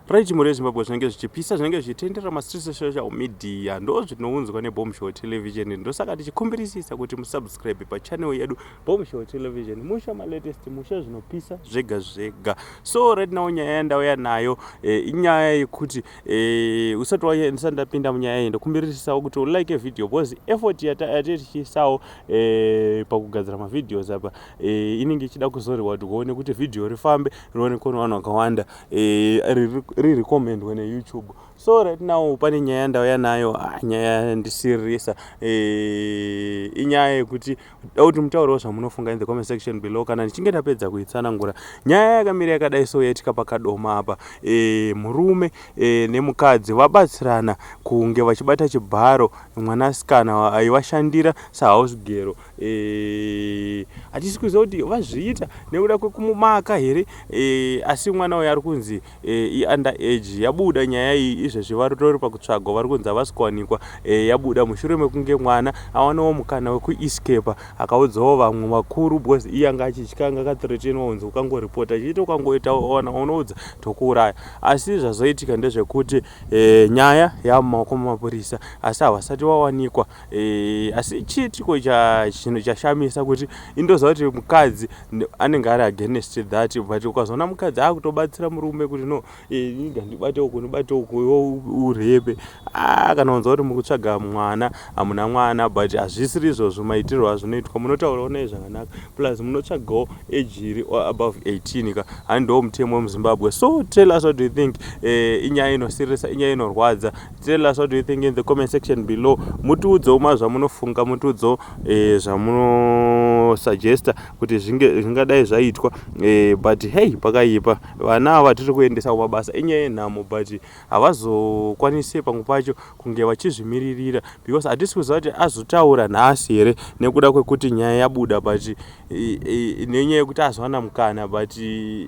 Rai chimhuri yeZimbabwe zvinenge zvichipisa zvinenge zvichitenderera mastreets esocial media ndozvinounzwa nebom show television ndosaka tichikumbirisisa kuti musubscribe pachannel yedu bom show television musha malatest musha zvinopisa zvega zvega so right now nyaya yandauya nayo eh, inyaya e, yekuti e, usati waendisa ndapinda munyaya iyi ndokumbirisisawo kuti ulike video because effort yatetichisawo e, eh, pakugadzira mavideos apa e, inenge ichida kuzoriwa kuti uone kuti video rifambe rionekwe nevanhu vakawanda Eh, ririrecommendwa neyoutube so right now pane nyaya yandauya nayo ah, nyaya yandisiririsa eh, inyaya yekuti da kuti mutaurawo zvamunofunga in the comment section below kana ndichinge ndapedza kuitsanangura nyaya yakamira yakadai so yaitika pakadoma apa eh, murume nemukadzi vabatsirana kunge vachibata chibharo mwanasikana aivashandira sahausgero Eh, hatisi kuziva kuti vazviita nekuda kwekumumaka here eh, asi mwana uyo ari kunzi eh, iunder age yabuda nyaya iyi izvezvi varitori pakutsvagwa vari kunzi havasi kuwanikwa yabuda mushure mekunge mwana awanawo mukana wekuescapa akaudzawo vamwe vakuru because iye anga achitya anga akathretenwa unzi ukangoripota chiita ukangoita ona unoudza tokuuraya asi zvazoitika ndezvekuti nyaya yamumaoko mumapurisa asi havasati vawanikwa E, asi chii tiko chinhu chashamisa kuti indoziva kuti mukadzi anenge ari against that but ukazoona mukadzi akutobatsira murume kuti no inga e, ndibate uku ndibate uku urebe ah, kana unza kuti mukutsvaga mwana hamuna mwana but hazvisiri izvozvo maitirwo azvinoitwa munotaurawo naye zvakanaka plus munotsvagawo age iri above 18 ka handiwo mutemo wemuzimbabwe so tell us what do you think e, inyaya inosirisa inyaya inorwadza Tell us what do you think in the comment section below. Mutiudzewo ma zvamunofunga, mutiudzewo eh, zvamunosuggesta kuti zvinge zvingadai zvaitwa eh, but hey pakaipa vana ava tiri kuendesa kumabasa inyaya yenhamo but havazokwanise pamwe pacho kunge vachizvimiririra because hatisi kuziva kuti azotaura nhasi here nekuda kwekuti nyaya yabuda but eh, eh, nenyaya yekuti azowana mukana but eh,